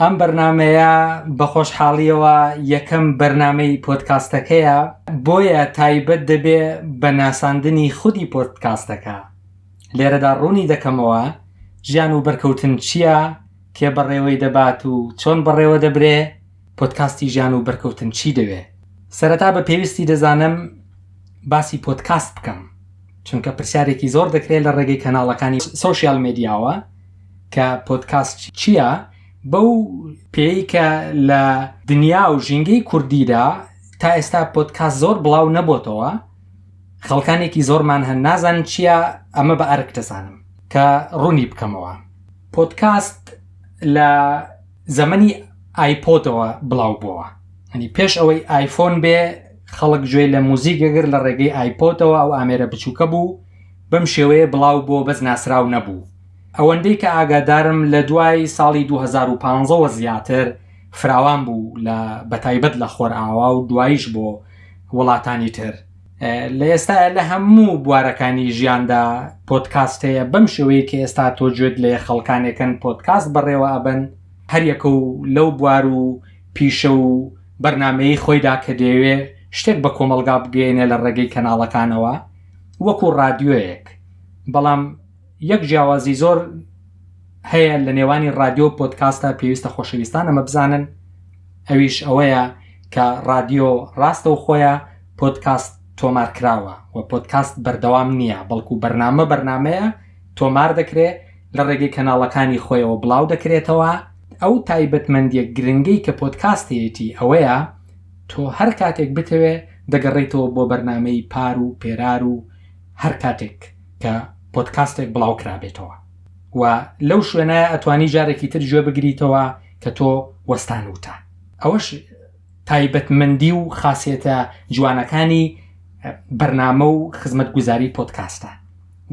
ئەم بەرنمەیە بە خۆشحاڵیەوە یەکەم بەرنمەی پۆتکاستەکەیە بۆیە تایبەت دەبێ بە ناساندنی خودی پۆتکاستەکە لێرەدا ڕوونی دەکەمەوە ژیان و بەرکەوتن چییە کێ بەڕێوەی دەبات و چۆن بەڕێوە دەبرێ پۆتکاستی ژیان و بەرکەوتن چی دەوێ سەرەتا بە پێویستی دەزانم باسی پۆتکاست بکەم چونکە پرسیارێکی زۆر دەکرێت لە ڕێگەی کەناڵەکانی سوسیال مدیاوە کە پۆدکاست چیە بەو پێی کە لە دنیا و ژینگەی کوردیدا تا ئێستا پۆدکاست زۆر بڵاو نەبۆتەوە خەڵکانێکی زۆرمان هەن نازان چیە ئەمە بە ئەرک دەزانم کە ڕوونی بکەمەوە پۆدکاست لە زەمەنی ئایپۆتەوە بڵاو بووە ئەنی پێش ئەوەی ئایفۆن بێ خەڵک گوێ لە موزیک گەگر لە ڕێگەی ئایپۆتەوە ئەو ئامێرە بچووکە بوو بەم شێوەیە بڵاو بۆ بەس ناسرااو نەبوو ئەوەندەی کە ئاگادارم لە دوای ساڵی دوو هەزار و پازدە وە زیاتر فراوان بوو لە بەتایبەت لە خۆرئاوا و دواییش بۆ وڵاتانی تر لە ئێستایا لە هەموو بوارەکانی ژیاندا پۆدکاست هەیە بەم شێوەیە کە ئێستا تۆ گوێت لێ خەڵکانێکن پۆدکاست بەڕێوە ئەبەن هەریەکە و لەو بوار و پیشە و بەرنامەیەی خۆیدا کە دەیەوێ شتێک بە کۆمەڵگا بگەیەنێ لە ڕێگەی کەناڵەکانەوە وەکو ڕادیۆیەک بەڵام یەک جیاوازی زۆر هەیە لە نێوانی رادیۆ و پۆتکاستە پێویستە خۆشەویستان ئەمە بزانن ئەویش ئەوەیە کە رادیۆ راستە و خۆیان پۆتکاست تۆمار کراوە و پۆتکاست بەردەوام نییە بەڵکو بەرنامە بەرنمەیە تۆمار دەکرێت لە ڕێگەی کەناڵەکانی خۆیەوە بڵاو دەکرێتەوە ئەو تایبەتمەندیە گرنگەی کە پۆتکاستەیەتی ئەوەیە تۆ هەر کاتێک بتەوێ دەگەڕیتەوە بۆ بەرنمەی پار و پێرار و هەر کاتێک کە پۆدکاستێک بڵاو کرابێتەوە و لەو شوێنە ئەتوانی جارێکی تر گوێ بگریتەوە کە تۆ وەستان وتە ئەوەش تایبەتمەندی و خاصێتە جوانەکانی بەرنامە و خزمەت گوزاری پۆدکاستە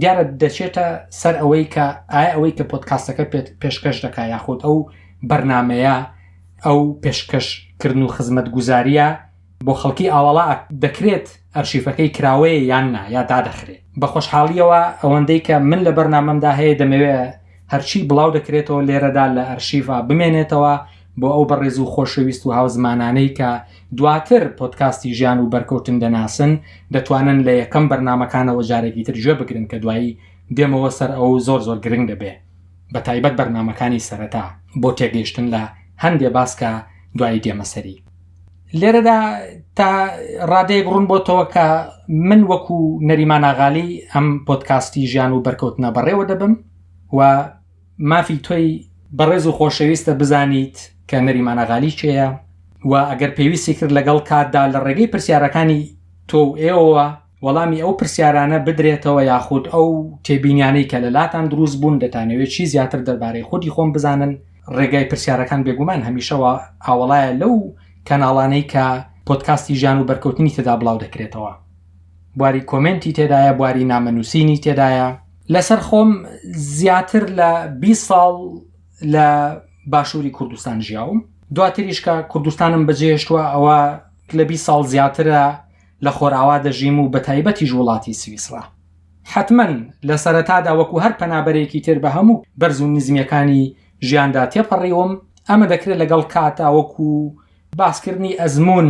دیارە دەچێتە سەر ئەوەی کە ئایا ئەوەی کە پۆدکاستەکە پێت پێشکەش دەکا یاخود ئەو بەرنمەیە ئەو پێشکەشکردن و خزمەت گوزاریە بۆ خەڵکی ئاواڵا دەکرێت ئەرشیفەکەی کراوەیە یان نا یا دادەخرێت بە خۆشحاڵیەوە ئەوەندەی کە من لە بەرنامەمدا هەیە دەمەوێ هەرچی بڵاو دەکرێتەوە لێرەدا لە ئەرشیفا بمێنێتەوە بۆ ئەو بەڕێز و خۆشەویست و هاوزمانانەی کە دواتر پۆتکاستی ژیان و بەرکەوتن دەناسن دەتوانن لە یەکەم بەرنمەکانەوە جارێکی تر گوێ بگرن کە دوایی دێمەوە سەر ئەو زۆر زۆر گرنگ دەبێ بە تایبەت بەرنمەکانی سەرەتا بۆ تێگەیشتن لە هەندێ باسکە دوایی دێمەسەری لێرەدا تا ڕادەیەک ڕوون بۆتەوە کە من وەکو نەریمانناغالی ئەم پۆتکاستی ژیان و بەرکەوتنە بەڕێوە دەبم و مافی تۆی بەڕێز و خۆشەویستە بزانیت کە نەریمانناغالی چێە و ئەگەر پێویستی کرد لەگەڵ کاتدا لە ڕێگەی پرسیارەکانی تۆ و ئێوە وەڵامی ئەو پرسیارانە بدرێتەوە یاخود ئەو تێبینیانەی کە لە لاتان دروست بوون دەتانەوێت چی زیاتر دەربارەی خودی خۆم بزانن ڕێگای پرسیارەکان بێگومان هەمیشەوە ئاوەڵایە لەو کەناڵانەی کە پۆدکاستی ژیان و بەرکەوتنی تێدا بڵاو دەکرێتەوە بواری کۆمێنتی تێدایە بواری نامە نووسینی تێدایە لەسەر خۆم زیاتر لە بیست ساڵ لە باشووری کوردستان ژیاوم دواتریش کە کوردستانم بەجێهێشتووە ئەوە لە بیست ساڵ زیاترە لە خۆرئاوا دەژیم و بە تایبەتیش وڵاتی سویسڕا. حەتمەن لە سەرەتادا وەکو هەر پەنابەرێکی تر بە هەموو بەرز و نزمییەکانی ژیاندا تێپەڕیوم، ئەمە دەکرێت لەگەڵ کاتا وەکو باسکردنی ئەزموون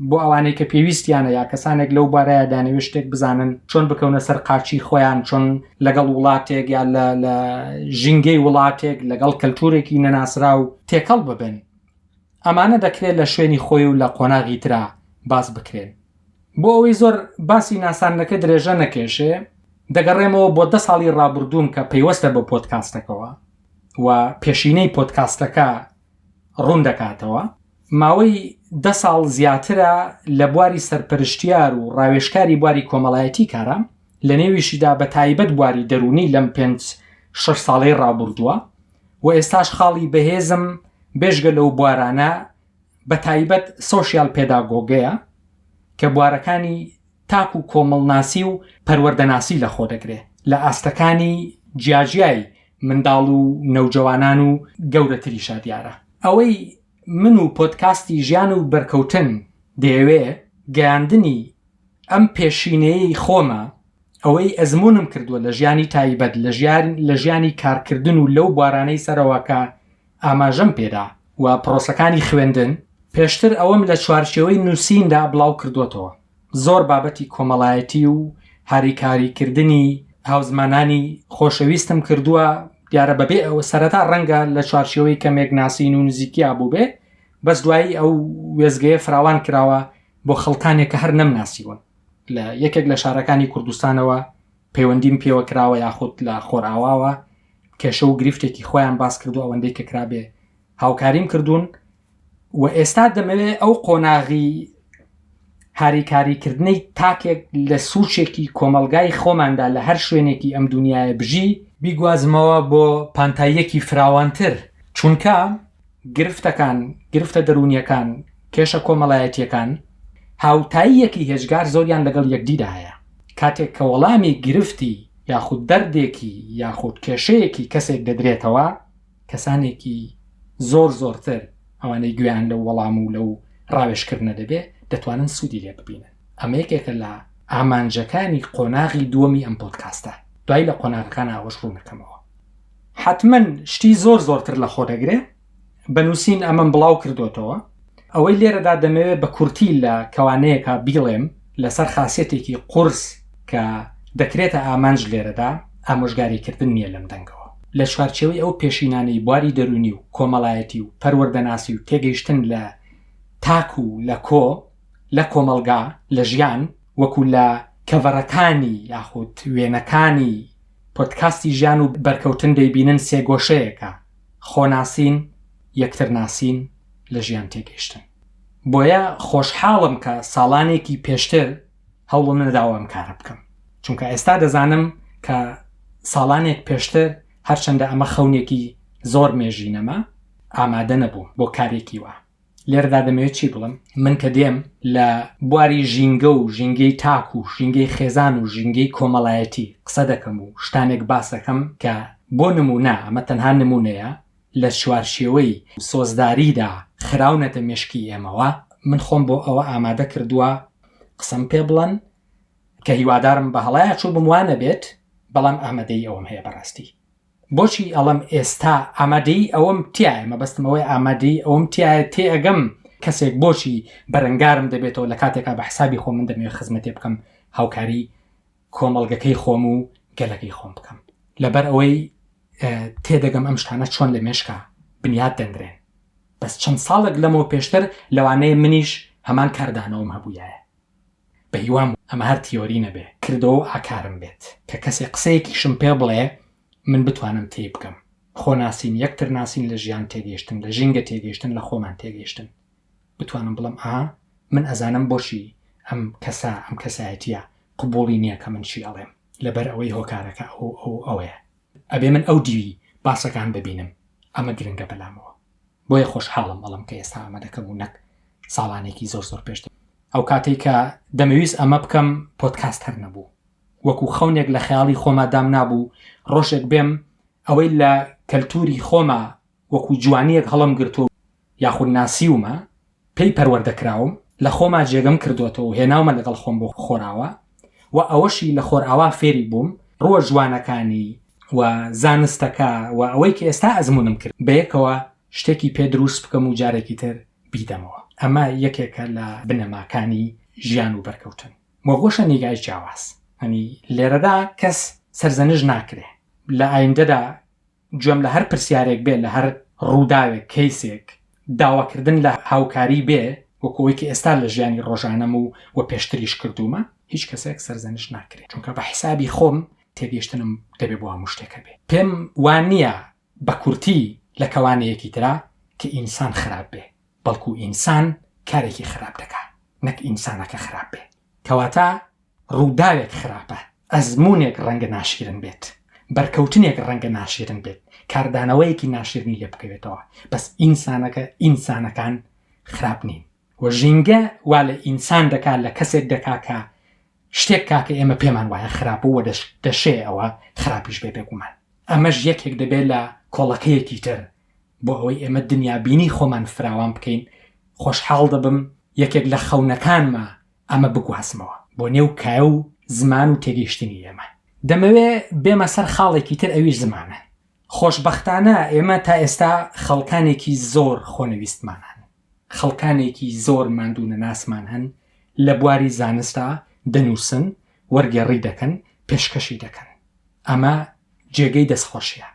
بۆ ئەوانەی کە پێویستیانە یا کەسانێک لەو بارەیە دانەوێت شتێک بزانن چۆن بکەونە سەر قاچی خۆیان، چۆن لەگەڵ وڵاتێک یا لە لە ژینگەی وڵاتێک لەگەڵ کەلتورێکی نەناسراو تێکەڵ ببن. ئەمانە دەکرێ لە شوێنی خۆی و لە قۆناغی ترا باس بکرێن. بۆ ئەوەی زۆر باسی ناساندنەکە درێژە نەکێشێ، دەگەڕێمەوە بۆ دە ساڵی ڕابوردووم کە پەیوەستە بە پۆدکاستەکەوە و پێشینەی پۆدکاستەکە ڕوون دەکاتەوە. ماوەی دە ساڵ زیاترە لە بواری سەرپەرشتیار و ڕاوێژکاری بواری کۆمەڵایەتی کارام. لەنێویشیدا بە تایبەت بواری دەروونی لەم پێنج شەش ساڵەی ڕابوردووە و ئێستاش خاڵی بەهێزم بێژگە لەو بوارانە بە تایبەت سۆشیال پێداگۆگەیە کە بوارەکانی تاک و کۆمەڵناسی و پەروەردەناسی لە خۆ دەگرێ لە ئاستەکانی جیاجیای منداڵ و نەوجەوانان و گەورەتریشا دیارە ئەوەی من و پۆدکاستی ژیان و بەرکەوتن دەیەوێ گەیاندنی ئەم پێشینەیەی خۆمە ئەوەی ئەزمونم کردووە لە ژیانی تایبەت لە ژیار لە ژیانی کارکردن و لەو بارانەی سەرەوەکە ئاماژەم پێدا و پرۆسەکانی خوێندن پێشتر ئەوەم لە چوارچەوەی نووسیندا بڵاو کردوەتەوە زۆر بابەتی کۆمەڵایەتی و هاریکاریکردنی هاوزمانانی خۆشەویستم کردووە دیارە بەبێ ئەوە سەرەتا ڕەنگە لە چوارچەوەی کەمێک ناسین و نزیکیا بووبێ بەس دوایی ئەو وێزگەیە فراوان کراوە بۆ خەڵکانێک کە هەر نەمناسیون لە یەکێک لە شارەکانی کوردستانەوە پەیوەندیم پێوە کراوە یاخود لە خۆرئاواوە کێشە و گرفتێکی خۆیان باس کرد و ئەوەندەی کە کرابێ هاوکاریم کردوون و ئێستا دەمەوێ ئەو قۆناغی هاریکاریکردنەی تاکێک لە سوچێکی کۆمەلگای خۆماندا لە هەر شوێنێکی ئەم دنیاە بژی بیگوازمەوە بۆ پانتاییەکی فراوانتر چونکە گرفتەکان، گرفتە دەروونییەکان، کێشە کۆمەڵایەتییەکان، هاوتاییەکی هێجگار زۆریان لەگەڵ یەکدیدا هەیە. کاتێک کە وەڵامی گرفتی یاخود دەردێکی یاخود کێشەیەکی کەسێک دەدرێتەوە، کەسانێکی زۆر زۆرتر، ئەوانەی گوێیان لەو وەڵام و لەو ڕاوێژکردنە دەبێت، دەتوانن سوودی لێ ببینن. ئەمە یەکێکە لە ئامانجەکانی قۆناغی دووەمی ئەم پۆدکاستە. دوای لە قۆناغەکان ئاوەش ڕوونەکەمەوە. حەتمەن شتی زۆر زۆرتر لە خۆ دەگرێ، بە نووسین ئەمەم بڵاو کردۆتەوە. ئەوەی لێرەدا دەمەوێ بە کورتی لە کەوانەیەکا بیڵێم لەسەر خاسیەتێکی قورس کە دەکرێتە ئامانج لێرەدا ئامۆژگاری کردن نیە لەم دەنگەوە لە چوارچێوەی ئەو پێشینانەی بواری دەروونی و کۆمەڵایەتی و پەروەردەناسی و تێگەیشتن لە تاک و لە کۆ لە کۆمەڵگا لە ژیان وەکو لە کەڤەرەکانی یاخود وێنەکانی پۆدکاستی ژیان و بەرکەوتن دەیبینن سێگۆشەیەکە، خۆناسین، یەکترناسین، لە ژیان تێگەیشتن. بۆیە خۆشحاڵم کە ساڵانێکی پێشتر هەوڵم نەداوە ئەم کارە بکەم، چونکە ئێستا دەزانم کە ساڵانێک پێشتر هەرچەندە ئەمە خەونێکی زۆر مێژینەمە، ئامادە نەبووم بۆ کارێکی وا. لێرەدا دەمەوێت چی بڵم من کە دێم لە بواری ژینگە و ژینگەی تاک و ژینگەی خێزان و ژینگەی کۆمەڵایەتی قسە دەکەم و شتانێک باسەکەم کە بۆ نمونە ئەمە تەنها نمونەیە لە چوارشێوەی سۆزداریدا خراونەتە مشکی ئێمەوە من خۆم بۆ ئەوە ئامادە کردووە قسم پێ بڵن کە هیوادارم بە هەڵایە چوو بموانە بێت بەڵام ئامادەی ئەوم هەیە بەڕاستی بۆچی ئەڵێم ئێستا ئامادەی ئەوەم تایە مەبەستم ئەوەی ئامادەی ئەوەم تایە تێ ئەگەم کەسێک بۆچی بەرەنگارم دەبێتەوە لە کاتێکا بە حسابی خۆ من دەمەوێت خزمەتێ بکەم هاوکاری کۆمەڵگەکەی خۆم و گەلەکەی خۆم بکەم لەبەر ئەوەی تێدەگەم ئەم شتانە چۆن لە مێشکا بنیاد دەنرێن بەس چەند ساڵێک لەمەوە پێشتر لەوانەیە منیش هەمان کاردانەوەم هەبووایە بە هیوام ئەمە هەر تیۆری نەبێ کردەوە و ئاکارم بێت کە کەسێ قسەیەکیشم پێ بڵێ من بتوانم تێی بگەم. خۆ ناسین، یەکتر ناسین لە ژیان تێگەیشتن، لە ژینگە تێگەیشتن، لە خۆمان تێگەیشتن. بتوانم بڵێم ئاها من ئەزانم بۆچی ئەم کەسە، ئەم کەسایەتییە قبووڵی نییە کە من چی ئەڵێم لەبەر ئەوەی هۆکارەکە ئەو و ئەو و ئەوەیە. ئەبێ من ئەو دیوی باسەکان ببینم. ئەمە گرنگە بەلامەوە. بۆیە خۆشحاڵم ئەڵێم کە ئێستا ئەمە دەکەم و نەک ساڵانێکی زۆر زۆر پێشتر ئەو کاتەی کە دەمەویست ئەمە بکەم پۆتکاست هەر نەبوو وەکو خەونێک لە خەیاڵی خۆما دام نابوو ڕۆژێک بێم ئەوەی لە کەلتوری خۆما وەکو جوانیەک هەڵم گرتوو یاخود ناسیومە پێی پەروەردە کراوم، لە خۆما جێگەم کردۆتەوە و هێناومە لەگەڵ خۆم بۆ خۆراوا و ئەوەشی لە خۆرئاوا فێری بووم، ڕووە جوانەکانی و زانستەکە و ئەوەی کە ئێستا ئەزموونم کرد بەیەکەوە شتێکی پێ درووست بکەم و جارێکی تر بیدەمەوە. ئەمە یەکێکە لە بنەماکانی ژیان و بەرکەوتن و گۆشە نیگای جیاواز. یانی لێرەدا کەس سەرزەنشت ناکرێ لە ئایندەدا. گوێم لە هەر پرسیارێک بێ، لە هەر ڕووداوێک، کەیسێک، داواکردن لە هاوکاری بێ، وەکو ئەوەی کە ئێستا لە ژیانی ڕۆژانەم و و پێشتریش کردوومە، هیچ کەسێک سەرزەنشت ناکرێ، چونکە بە حیسابی خۆم تێگەیشتنم دەبێ بۆ هەموو شتێک هەبێ. پێم وا نییە بە کورتی لە کەوانەیەکی ترا کە ئینسان خراپ بێ، بەڵکو ئینسان کارێکی خراپ دەکا، نەک ئینسانەکە خراپ بێ. کەواتە ڕووداوێک خراپە، ئەزموونێک ڕەنگە ناشیرن بێت، بەرکەوتنێک ڕەنگە ناشیرن بێت، کاردانەوەیەکی ناشیرنی لێ بکەوێتەوە، بەس ئینسانەکە، ئینسانەکان خراپ نین و ژینگە وا لە ئینسان دەکا، لە کەسێک دەکا کە شتێک کا کە ئێمە پێمان وایە خراپە و دەشێ ئەوە خراپیش بێ بێگومان. ئەمەش یەکێک دەبێ لە کۆڵەکەیەکی تر بۆ ئەوەی ئێمە دنیابینی خۆمان فراوان بکەین خۆشحاڵ دەبم یەکێک لە خەونەکانمە ئەمە بگوازمەوە بۆ نێو کایە و زمان و تێگەیشتنی ئێمە دەمەوێ بێمە سەر خاڵێکی تر ئەویش زمانە خۆشببختانە ئێمە تا ئێستا خەڵکانێکی زۆر خۆنەویستمانان خەڵکانێکی زۆر ماندوونەناسمان هەن لە بواری زانستا دەنووسن، وەرگێڕی دەکەن، پێشکەشی دەکەن. ئەمە جێگەی دەستخۆشیە،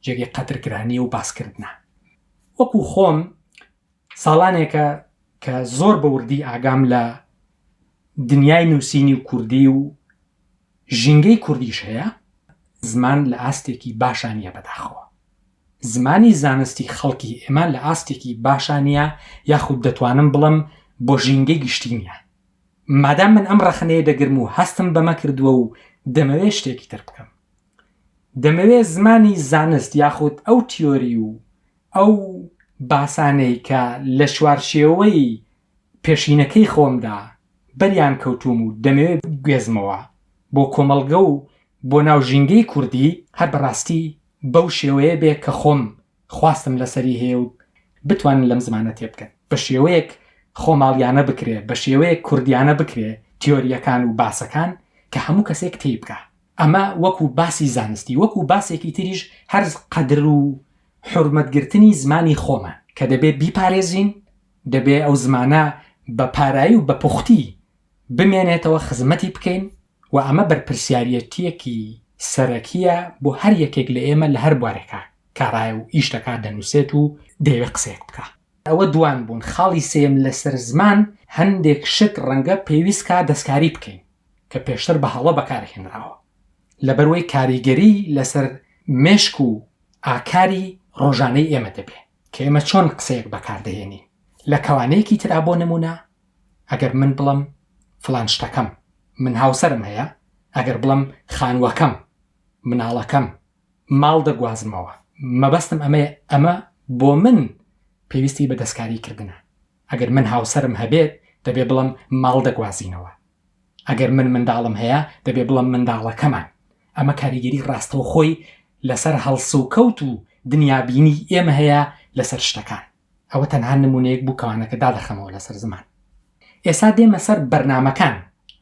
جێگەی قەدرکرانیە و باسکردنە. وەکو خۆم ساڵانێکە کە زۆر بە وردی ئاگام لە دنیای نووسینی و کوردی و ژینگەی کوردیش هەیە، زمان لە ئاستێکی باشا نییە بەداخەوە. زمانی زانستی خەڵکی ئێمە لە ئاستێکی باشا نییە یاخود دەتوانم بڵم بۆ ژینگەی گشتی نییە. مادام من ئەم ڕەخنەیە دەگرم و هەستم بەمە کردووە و دەمەوێت شتێکی تر بکەم. دەمەوێت زمانی زانست یاخود ئەو تیۆری و ئەو باسانەی کە لە چوارچێوەی پێشینەکەی خۆمدا بەریان کەوتووم و دەمەوێت بگوێزمەوە بۆ کۆمەڵگە و بۆ ناو ژینگەی کوردی، هەر بەڕاستی بەو شێوەیە بێ کە خۆم خواستم لەسەری هەیە و بتوانن لەم زمانە تێبگەن، بە شێوەیەک خۆماڵیانە بکرێ، بە شێوەیەک کوردیانە بکرێ تیۆرییەکان و باسەکان کە هەموو کەسێک تێیبگا. ئەمە وەکوو باسی زانستی، وەکوو باسێکی تریش هەر قەدر و حورمەتگرتنی زمانی خۆمان کە دەبێ بیپارێزین دەبێ ئەو زمانە بە پارایی و بە پوختی بمێنێتەوە خزمەتی بکەین و ئەمە بەرپرسیاریەتیەکی سەرەکیە بۆ هەر یەکێک لە ئێمە لە هەر بوارێکا کارایە و ئیش دەکا دەنوسێت و دەیەوێ قسەیەک بکا. ئەوە دوان بوون خاڵی سێیەم لەسەر زمان هەندێک شت ڕەنگە پێویست کا دەستکاری بکەین کە پێشتر بە هەڵە بەکار هێنراوە لەبەر وەی کاریگەری لەسەر مێشک و ئاکاری ڕۆژانەی ئێمە دەبێ. کە ئێمە چۆن قسەیەک بەکار دەهێنین لە کەوانەیەکی ترا بۆ نمونە ئەگەر من بڵم فلان شتەکەم من هاوسەرم هەیە ئەگەر بڵم خانوەکەم مناڵەکەم ماڵ دەگوازمەوە مەبەستم ئەمەیە ئەمە بۆ من پێویستی بە دەستکاری کردنە ئەگەر من هاوسەرم هەبێت دەبێ بڵێم ماڵ دەگوازینەوە، ئەگەر من منداڵم هەیە دەبێ بڵێم منداڵەکەمان، ئەمە کاریگەری ڕاستەوخۆی لەسەر هەڵسوکەوت و دنیابینیی ئێمە هەیە لەسەر شتەکان، ئەوە تەنها نمونەیەک بوو کەوانەکە دادەخەمەوە لەسەر زمان. ئێسا دێمە سەر بەرنامەکان،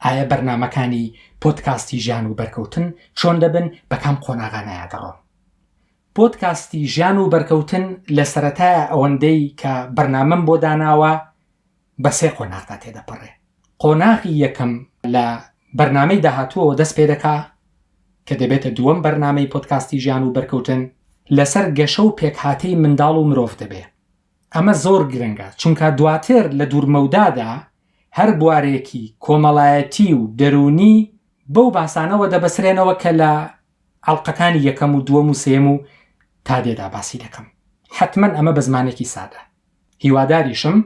ئایە بەرنامەکانی پۆدکاستی ژیان و بەرکەوتن چۆن دەبن، بە کام قۆناغانایا دەڕۆن؟ پۆدکاستی ژیان و بەرکەوتن لە سەرەتای ئەوەندەی کە بەرنامەم بۆ داناوە بە سێ قۆناغدا تێدەپەڕێ قۆناغی یەکەم لە بەرنامەی داهاتووەوە دەست پێ دەکا کە دەبێتە دووەم بەرنامەی پۆدکاستی ژیان و بەرکەوتن لەسەر گەشە و پێکهاتەی منداڵ و مرۆڤ دەبێ ئەمە زۆر گرنگە چونکە دواتر لە دوورمەودادا هەر بوارێکی کۆمەڵایەتی و دەروونی بەو باسانەوە دەبەسرێنەوە کە لە ئەڵقەکانی یەکەم و دووەم و سێیەم و تا دێدا باسی دەکەم حەتمەن ئەمە بە زمانێکی سادە هیواداریشم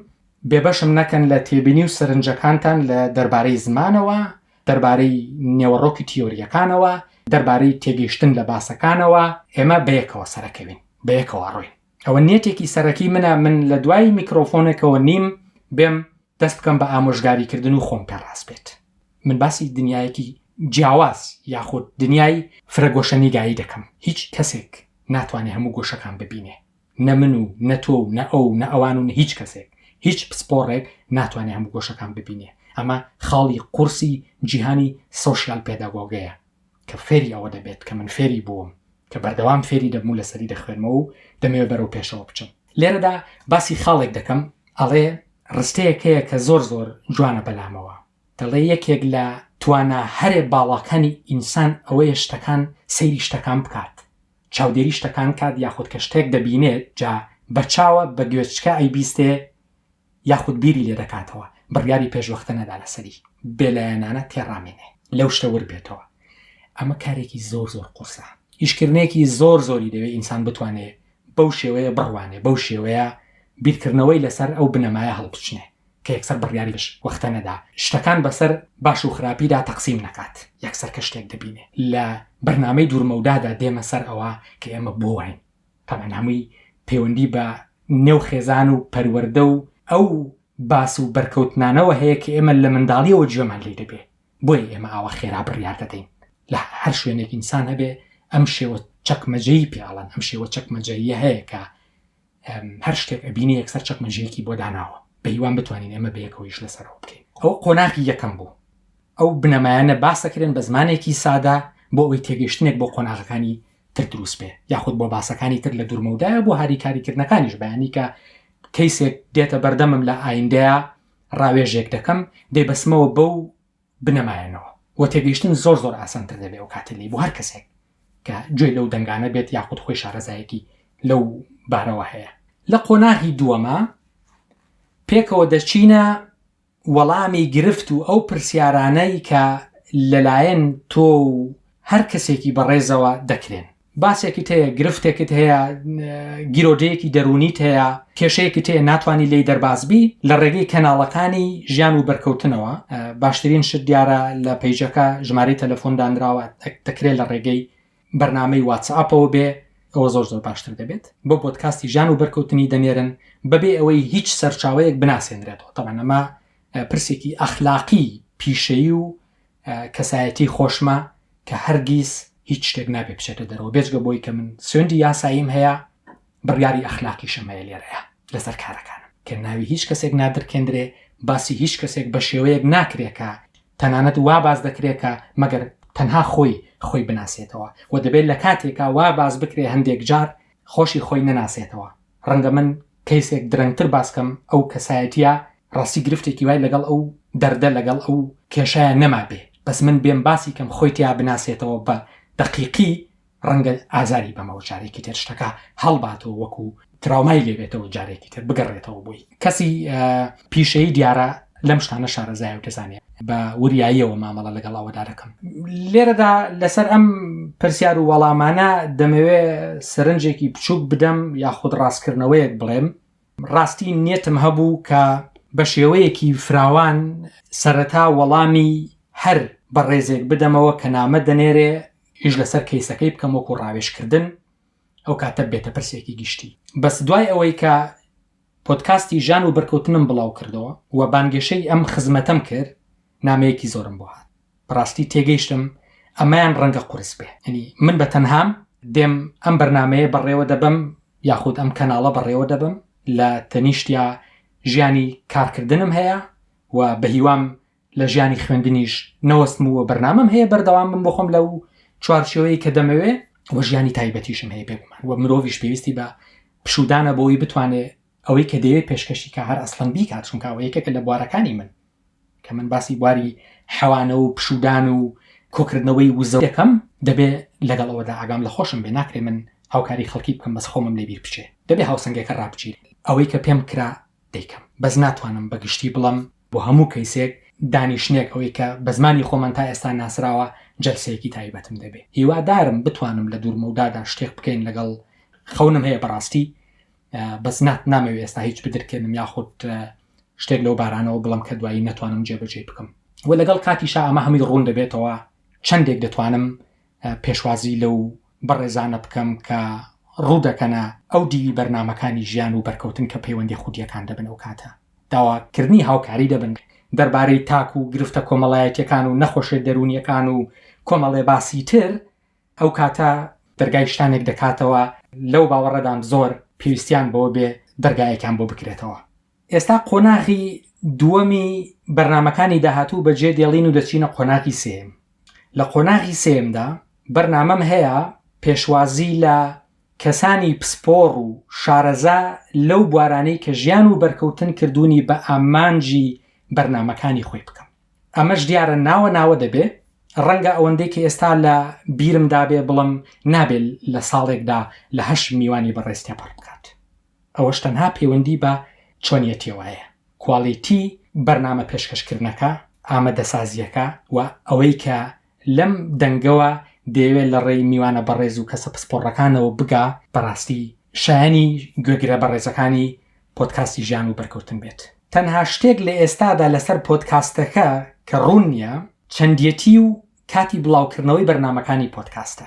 بێبەشم نەکەن لە تێبینی و سەرنجەکانتان لە دەربارەی زمانەوە دەربارەی نێوەڕۆکی تیۆرییەکانەوە دەربارەی تێگەیشتن لە باسەکانەوە ئێمە بەیەکەوە سەرەکەوین بەیەکەوە ڕۆین. ئەوە نیەتێکی سەرەکی منە من لە دوای میکرۆفۆنێکەوە نیم بێم دەست بکەم بە ئامۆژگاریکردن و خۆم پێڕاست بێت من باسی دنیایەکی جیاواز یاخود دنیای فرەگۆشەنیگایی دەکەم هیچ کەسێک ناتوانێت هەموو گۆشەکان ببینێ نە من و نە تۆ و نە ئەو نە ئەوان و هیچ کەسێک هیچ پسپۆڕێک ناتوانێت هەموو گۆشەکان ببینێ ئەمە خاڵی قورسی جیهانی سۆشیال پێداگۆگەیە کە فێری ئەوە دەبێت کە من فێری بووم، کە بەردەوام فێری دەبم و لەسەری دەخوێنمەوە و دەمەوێت بەرەو پێشەوە بچم. لێرەدا باسی خاڵێک دەکەم، ئەڵێ ڕستەیەک هەیە کە زۆر زۆر جوانە بەلامەوە، دەڵێ یەکێک لە توانا هەرێ باڵاکانی ئینسان ئەوەیە شتەکان سەیری شتەکان بکات، چاودێری شتەکان کات یاخود کە شتێک دەبینێت جا بە چاوە بە گوێچکە ئەیبیستێ یاخود بیری لێ دەکاتەوە بڕیاری پێشوەختە نەدا لەسەری، بێلایەنانە تێڕامێنێ لەو شتە ورد بێتەوە. ئەمە کارێکی زۆر زۆر قورسە. ئیشکردنێکی زۆر زۆری دەوێ ئینسان بتوانێ بەو شێوەیە بڕوانێ، بەو شێوەیە بیرکردنەوەی لەسەر ئەو بنەمایە هەڵبچنێ کە یەکسەر بڕیاری پێشوەختە نەدا، شتەکان بەسەر باش و خراپیدا تەقسیم نەکات، یەکسەر کە شتێک دەبینێ لە بەرنامەی دوورمەودادا دێمە سەر ئەوە کە ئێمە بۆ واین. تەبعەن هەمووی پەیوەندی بە نێو خێزان و پەروەردە و ئەو باس و بەرکەوتنانەوە هەیە کە ئێمە لە منداڵیەوە گوێمان لێی دەبێ بۆیە ئێمە ئاوا خێرا بڕیار دەدەین لە هەر شوێنێک ئینسان هەبێ ئەم شێوە چەکمەجەیی پێ ئەڵەن ئەم شێوە چەکمەجەییە هەیە کە هەر شتێک ئەبینی یەکسەر چەکمەجەیەکی بۆ داناوە بەهیوان بتوانین ئێمە بەیەکەوەیش لەسەرەوە بکەین ئەو قۆناغی یەکەم بوو ئەو بنەمایانە باسەکرێن بە زمانێکی سادا بۆ ئەوی تێگەشتنێک بۆ قۆناغەکانی تر دروست بێ یاخود بۆ باسەکانی تر لە دوورمەودایە بۆ هاریکاریکردنەکانیش بەیانی کە کەیسێک دێتە بەردەمم لە ئایندەیە ڕاوێژێک دەکەم دەیبەسمەوە بەو بنەمایەنەوە و تێگەیشتن زۆر زۆر ئاسانتر دەبێ و کاتی لی بۆ هەر کەسێک کە گوێ لەو دەنگانە بێت یاخود خۆی شارەزایەکی لەو بارەوە هەیە لە قۆناغی دووەمە پێکەوە دەچینە وەڵامی گرفت و ئەو پرسیارانەی کە لەلایەن تۆ و هەر کەسێکی بەڕێزەوە دەکرێن. باسێکت هەیە، گرفتێکت هەیە، گیرۆدەیەکی دەروونیت هەیە، کێشەیەکت هەیە ناتوانی لێی دەرباز بی، لە ڕێگەی کەناڵەکانی ژیان و بەرکەوتنەوە، باشترین شت دیارە لە پەیجەکە ژمارەی تەلەفۆن دانراوە دەکرێت لە ڕێگەی بەرنامەی واتسئاپەوە بێ ئەوە زۆر زۆر باشتر دەبێت بۆ بۆدکاستی ژان و بەرکەوتنی دەنێرن بەبێ ئەوەی هیچ سەرچاوەیەک بناسێنرێتەوە تەبەن ئەمە پرسێکی ئەخلاقی پیشەیی و کەسایەتی خۆشمە کە هەرگیز هیچ شتێک نابێ بچێتە دەرەوە بێجگە بۆی کە من سوێندی یاساییم هەیە بڕیاری ئەخلاقی شەمەیە لێرەیە لەسەر کارەکانم کە ناوی هیچ کەسێک نادرکێندرێ باسی هیچ کەسێک بە شێوەیەک ناکرێکە تەنانەت وا باس دەکرێ کە مەگەر تەنها خۆی خۆی بناسێتەوە و دەبێ لە کاتێکا وا باس بکرێ هەندێک جار خۆشی خۆی نەناسێتەوە. ڕەنگە من کەیسێک درەنگتر باس کەم ئەو کەسایەتییە ڕاستی گرفتێکی وای لەگەڵ ئەو دەردە لەگەڵ ئەو کێشەیە نەمابێ بەس من بێم باسی کەم خۆی تیا بناسێتەوە بە دەقیقی ڕەنگە ئازاری بەمەوە جارێکی تر شتەکە هەڵباتەوە وەکو تراومای لێبێتەوە جارێکی تر بگەڕێتەوە بووی کەسی پیشەی دیارە لەم شتانە شارەزای و دەزانێت بە وریاییەوە مامەڵە لەگەڵ ئەوەدا دەکەم لێرەدا لەسەر ئەم پرسیار و وەڵامانە دەمەوێ سەرنجێکی بچووک بدەم یاخود ڕاستکردنەوەیەک بڵێم ڕاستی نیەتم هەبوو کە بە شێوەیەکی فراوان سەرەتا وەڵامی هەر بەڕێزێک بدەمەوە کە نامە دەنێرێ ئیش لەسەر کەیسەکەی بکەم وەکو ڕاوێشکردن ئەو کاتە بێتە پرسێکی گشتی بەس دوای ئەوەی کە پۆتکاستی ژان و بەرکەوتنم بڵاو کردەوە و بانگێشەی ئەم خزمەتەم کرد نامەیەکی زۆرم بۆ هات بەڕاستی تێگەیشتم ئەمەیان ڕەنگە قورس بێ ئەنی من بە تەنهام دێم ئەم بەرنمەیە بەڕێوە دەبم یاخود ئەم کەناڵە بەڕێوە دەبم لە تەنیشتیا ژیانی کارکردنم هەیە و بە هیوام لە ژیانی خوێندنیش نەوەستم و بەرنامەم هەیە بەردەوام بم بخۆم لە و چوارچەوەی کە دەمەوێ وە ژیانی تایبەتیشم هەیە بێگومان وە مرۆڤش پێویستی بە پشودانە بۆی بتوانێت ئەوەی کە دەیەوێت پێشکەشی کە هەر ئەسلم بیکات چونکەوە یەکێکە لە بوارەکانی من کە من باسی بواری حەوانە و پشوودان و کۆکردنەوەی وزە دەکەم، دەبێ لەگەڵ ئەوەدا ئاگام لە خۆشم بێ، ناکرێ من هاوکاری خەڵکی بکەم بەس خۆمم لێ بیر بچێ، دەبێ هاوسەنگەکە ڕابچیت، ئەوەی کە پێم کرا دەیکەم، بەس ناتوانم بە گشتی بڵێم بۆ هەموو کەیسێک دانیشتنێک ئەوەی کە بە زمانی خۆمان تا ئێستا ناسراوە جەلسەیەکی تایبەتم دەبێ، هیوادارم بتوانم لە دوورمەودادا شتێک بکەین لەگەڵ خەونم هەیە بەڕاستی بەس نا نامەوێ ئێستا هیچ بدرکێنم یاخود شتێک لەو بارانەوە بڵم کە دوایی نەتوانم جێبەجێ بکەم و لەگەڵ کاتی شا ئەمە هەمووی ڕوون دەبێتەوە چەندێک دەتوانم پێشوازی لەو بەڕێزانە بکەم کە ڕوو دەکەنە ئەو دیوی بەرنمەکانی ژیان و بەرکەوتن کە پەیوەندی خودیەکان دەبن و کاتە داواکردنی هاوکاری دەبن دەربارەی تاک و گرفتە کۆمەڵایەتەکان و نەخۆشێ دەرونیەکان و کۆمەڵێ باسی تر ئەو کاتە دەرگای شتانێک دەکاتەوە لەو باوەڕەدام زۆر پێویستیان بەوە بێ دەرگایەکیان بۆ بکرێتەوە ئێستا قۆناغی دووەمی بەرنمەکانی داهاتوو بە جێ دێڵین و دەچینە قۆناغی سێم لە قۆناغی سێمدا بەرنامەم هەیە پێشوازی لە کەسانی پسپۆڕ و شارەزا لەو بوارانەی کە ژیان و بەرکەوتن کردوونی بە ئامانجی بەرنمەکانی خۆی بکەم ئەمەش دیارە ناوە ناوە دەبێ، ڕەنگە ئەوەندەی کە ئێستا لە بیرم دابێ بڵێم نابێ لە ساڵێکدا لە هەشت میوانی بەڕێز تێپەڕ بکات. ئەوەش تەنها پەیوەندی بە چۆنیەتیەوە هەیە، کواڵیتی بەرنامە پێشکەش کردنەکە، ئامەدەسازیەکە و ئەوەی کە لەم دەنگەوە دەیەوێت لە ڕێی میوانە بەڕێز و کەسە پسپۆڕەکانەوە بگا بەڕاستی شایانی گوێگرە بەڕێزەکانی پۆتکاستی ژیان و بەرکەوتن بێت تەنها شتێک لە ئێستادا لەسەر پۆتکاستەکە کە ڕوون نییە چەندەتی و کاتی بڵاوکردنەوەی بەرنمەکانی پۆتکاستە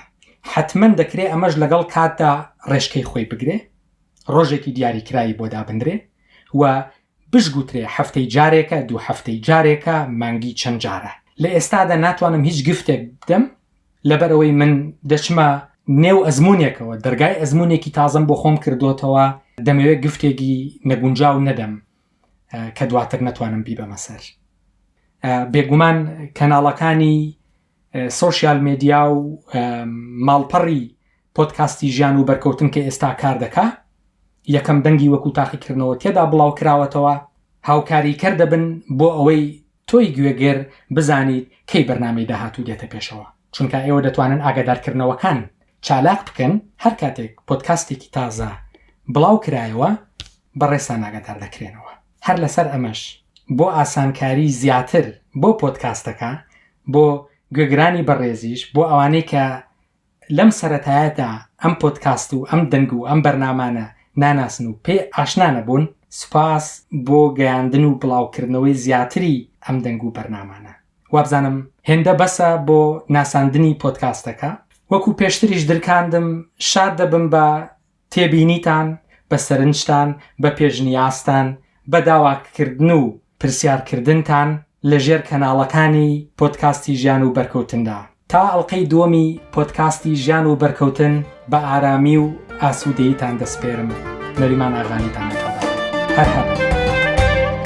حتمما دەکرێت ئەمەش لەگەڵ کاتدا ڕێژکەی خۆی بگرێ ڕۆژێکی دیاریکراوی بۆ دابدرێ و بشگوترێ هەفتەی جارێکە، دوو هەفتەی جارێکە، مانگی چەند جارە. لە ئێستادا ناتوانم هیچ گفتێک بدەم، لەبەرئەوەی من دەچمە نێو ئەزموونێکەوە، دەرگای ئەزموونێکی تازەم بۆ خۆم کردۆتەوە، دەمەوێ گفتێگی نەگونجاو نەدەم کە دواتر نەتوانم بیبەمە سەر. بێگومان کەناڵەکانی سۆشیال مێدیا و ماڵپەڕی پۆدکاستی ژیان و بەرکەوتن کە ئێستا کار دەکا یەکەم دەنگی وەکو تاقیکردنەوە تێدا بڵاو کراوەتەوە، هاوکاریکەر دەبن بۆ ئەوەی تۆی گوێگر بزانیت کەی بەرنامەی داهاتوو دێتە پێشەوە، چونکا ئێوە دەتوانن ئاگادارکردنەوەکان چالاک بکەن، هەر کاتێک پۆدکاستێکی تازە بڵاو کرایەوە بەڕێزتان ئاگادار دەکرێنەوە. هەر لەسەر ئەمەش بۆ ئاسانکاری زیاتر بۆ پۆدکاستەکە، بۆ گوێگرانی بەڕێزیش، بۆ ئەوانەی کە لەم سەرەتایەدا ئەم پۆدکاست و ئەم دەنگ و ئەم بەرنامانە ناناسن و پێ ئاشنا نەبوون، سوپاس بۆ گەیاندن و بڵاوکردنەوەی زیاتری ئەم دەنگ و بەرنامانە. وابزانم هێندە بەسە بۆ ناساندنی پۆدکاستەکە. وەکو پێشتریش درکاندم شاد دەبم بە تێبینیتان، بە سەرنجتان، بە پێشنیازتان، بە داواککردن و پرسیارکردنتان لە ژێر کەناڵەکانی پۆدکاستی ژیان و بەرکەوتندا. تا ئەڵقەی دووەمی پۆدکاستی ژیان و بەرکەوتن بە ئارامی و ئاسوودەییتان دەسپێرم، نەریمان ئاغالیتان لەگەڵ دەکەم. هەر هەبن.